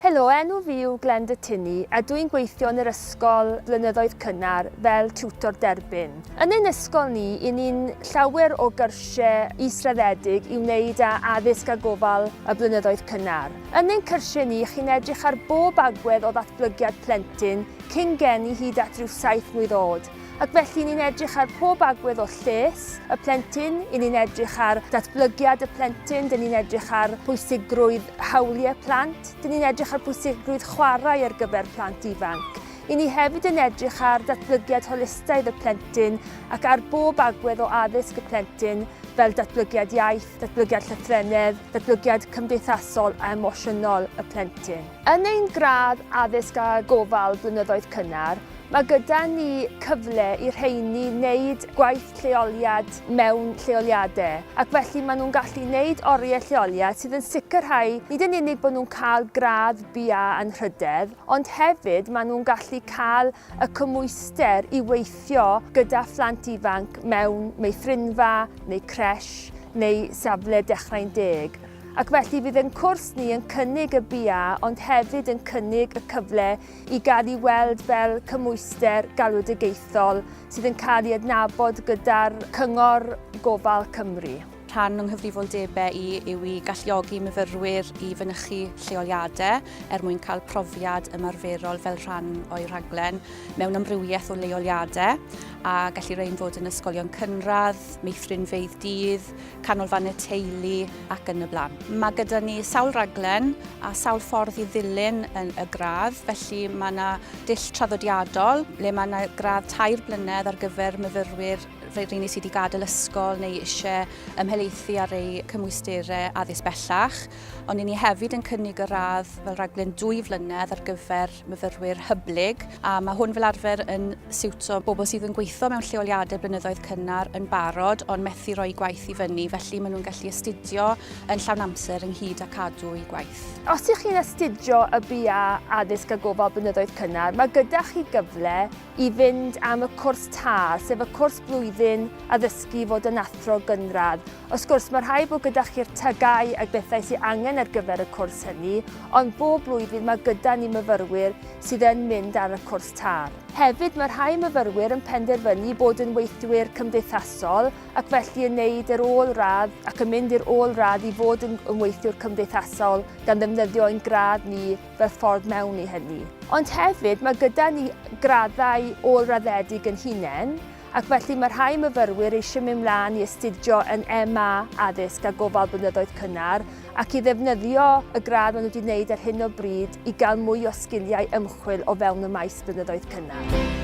Helo, enw fi yw Glen de Tinny a dw i'n gweithio yn yr ysgol blynyddoedd cynnar fel tiwtor derbyn. Yn ein ysgol ni, i ni'n llawer o gyrsiau israddedig i wneud â addysg a gofal y blynyddoedd cynnar. Yn ein cyrsiau ni, chi'n edrych ar bob agwedd o ddatblygiad plentyn, cyn geni hyd at ryw saith mlwydd o'd. Ac felly ni'n edrych ar pob agwedd o lles y plentyn, i ni'n edrych ar datblygiad y plentyn, dyn ni'n edrych ar pwysigrwydd hawliau plant, dyn ni'n edrych ar pwysigrwydd chwarae ar gyfer plant ifanc. I ni hefyd yn edrych ar datblygiad holistaidd y plentyn ac ar bob agwedd o addysg y plentyn fel datblygiad iaith, datblygiad llythrennedd, datblygiad cymdeithasol a emosiynol y plentyn. Yn ein gradd Addysg a Gofal blynyddoedd cynnar, Mae gyda ni cyfle i'r rheiny wneud gwaith lleoliad mewn lleoliadau, ac felly maen nhw'n gallu gwneud oriau lleoliad sydd yn sicrhau nid yn unig bod nhw'n cael gradd BA Anrhydedd, ond hefyd maen nhw'n gallu cael y cymhwyster i weithio gyda phlant ifanc mewn meithrinfa neu creche neu safle Dechrau'n Deg. Ac felly fydd ein cwrs ni yn cynnig y BA ond hefyd yn cynnig y cyfle i gael ei weld fel cymwyster galwedigaethol sydd yn cael ei adnabod gyda'r Cyngor Gofal Cymru. Rhan o'n nghyfrifoldebau i yw i galluogi myfyrwyr i fynychu lleoliadau er mwyn cael profiad ymarferol fel rhan o'i rhaglen mewn amrywiaeth o leoliadau a gallu rhain fod yn ysgolion cynradd, meithrinfeydd dydd, canolfan y teulu ac yn y blaen. Mae gyda ni sawl raglen a sawl ffordd i ddilyn yn y gradd, felly mae yna dull traddodiadol le mae yna gradd tair blynedd ar gyfer myfyrwyr rheini sydd wedi gadael ysgol neu eisiau ymhelaethu ar eu cymwysterau addysg bellach, ond i ni hefyd yn cynnig y radd fel raglen dwy flynedd ar gyfer myfyrwyr hyblyg a mae hwn fel arfer yn siwto bobl sydd yn gweithio mewn lleoliadau blynyddoedd cynnar yn barod ond methu rhoi gwaith i fyny felly maen nhw'n gallu astudio yn llawn amser ynghyd â cadw i gwaith. Os ydych chi'n astudio y BA Addysg a Gofal Blynyddoedd Cynnar, mae gyda chi gyfle i fynd am y cwrs TAR, sef y cwrs blwyddyn addysgu fod yn athro gynradd, Wrth gwrs, mae rhaid bod gyda chi'r tŷ gau ac bethau sydd angen ar gyfer y cwrs hynny, ond bob blwyddyn mae gyda ni myfyrwyr sydd yn mynd ar y cwrs târ. Hefyd, mae rhai myfyrwyr yn penderfynu bod yn weithwyr cymdeithasol ac felly yn neud yr ôl radd ac yn mynd i'r ôl radd i fod yn weithiwr cymdeithasol gan ddefnyddio ein gradd ni fel ffordd mewn i hynny. Ond hefyd, mae gyda ni graddau ôl-raddedig yn hunain, ac felly mae rhai myfyrwyr eisiau mynd mlaen i astudio yn MA Addysg a Gofal Blynyddoedd Cynnar ac i ddefnyddio y gradd maen nhw wedi wneud ar hyn o bryd i gael mwy o sgiliau ymchwil o fewn y maes blynyddoedd cynnar.